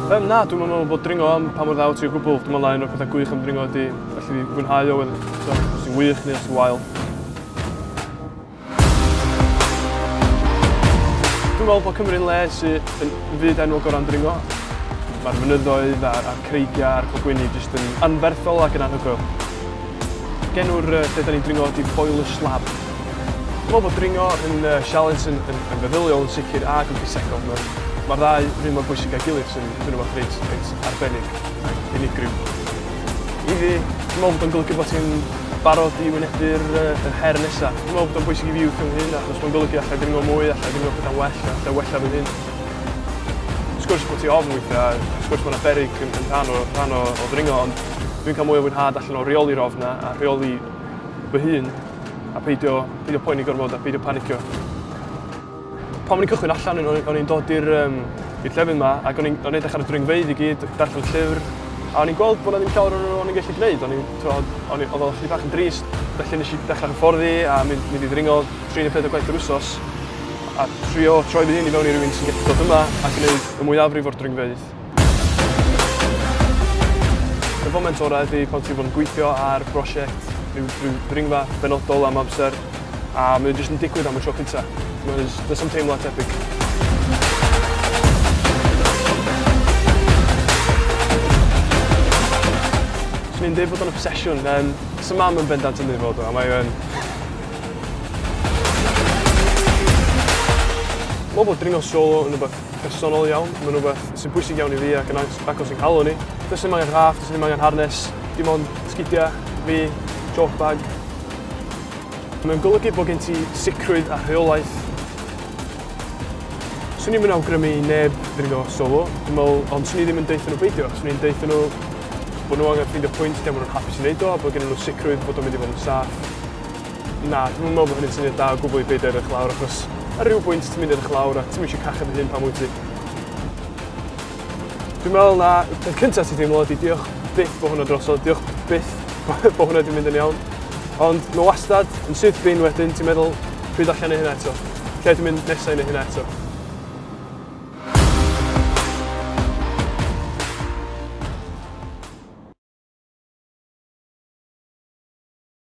Um, na, dwi'n meddwl bod dringo am pa mor ddaw ti o gwbl. Dwi'n meddwl na un o'r pethau gwych am dringo ydy felly fwynhau o wedyn. So, os ti'n wych neu os ti'n wael. Dwi'n meddwl bod Cymru'n le sy'n yn fyd enw gorau am dringo. Mae'r mynyddoedd a'r, ar creigiau a'r cogwyni jyst yn anferthol ac yn anhygoel. Genw'r uh, lle da ni'n dringo ydy Boiler Slab. Dwi'n meddwl bod dringo yn uh, sialens yn, yn, yn feddyliol yn sicr ac yn ffisegol. Mae'r ma ddau rhywun mor bwysig â'i gilydd sy'n yn rhywbeth reit, reit arbennig ac unigryw. I fi, dwi'n meddwl bod o'n golygu bod ti'n barod i wynebu'r uh, yr her nesaf. Dwi'n meddwl bod o'n bwysig i fi wrth fy hun achos mae'n golygu allai dringo mwy, allai dringo pethau'n well, allai wella fy hun. Wrth gwrs bod ti ofn weithiau, wrth gwrs mae'n aberig yn, yn rhan, o, rhan o, o ddringo, ond dwi'n cael mwy o fwynhad allan o reoli'r ofna a rheoli fy hun A peidio, peidio poeni gormod a peidio panicio. Pan o'n i'n cychwyn allan, o'n i'n dod i'r um, llefydd yma ac o'n i'n edrych ar y dringfeidd i gyd, darllen llyfr, a o'n i'n gweld bod yna ddim llawer o'n o'n i'n gallu gwneud. O'n i'n, o'n i'n, oedd o'n chdi bach yn drist, felly nes i dechrau hyfforddi a mynd, mynd i ddringo 34 gwaith yr wsos a trio troi fy hun i mewn i rywun sy'n gallu dod yma a gwneud y mwyafrif o'r dringfeidd. Y foment orau ydy pan ti'n bod yn gweithio ar brosiect, rhyw, rhyw ddringfa benodol am amser, a mae jyst yn digwydd am y tro cynta. Mae'n jyst yn teimlo tebyg. Swn i'n dweud bod o'n obsesiwn, um, sy'n mam yn bendant yn ei fod o, a mae o'n... Mae bod dringo solo yn rhywbeth personol iawn, mae'n rhywbeth sy'n bwysig iawn i fi ac yn agos i'n nghalon i. Does ddim angen raff, does ddim angen harness, dim ond sgidiau, fi, chalk bag. Mae'n golygu bod gen ti sicrwydd a rheolaeth. Swn i'm yn awgrymu i neb ddringo solo, dwi'n meddwl, ond swn i ddim yn deutha nhw beidio. Swn i'n deutha nhw bod nhw angen ffeindio pwynt lle maen nhw'n hapus i wneud o a bod gen nhw sicrwydd bod o'n mynd i fod yn saff. Na, dwi'm yn meddwl bod hynny'n syniad da o gwbl i beidio edrych lawr achos ar ryw bwynt ti'n mynd edrych lawr a ti'm eisiau cachu dy hun pan wyt ti. Dwi'n meddwl na y peth cyntaf ti'n teimlo ydi diolch byth bod hwnna drosodd, diolch byth bod hwnna wedi mynd yn iawn. Ond mae wastad yn syth bin wedyn ti'n meddwl pryd allan ei hynna eto, lle dwi'n mynd nesau neu hynna eto.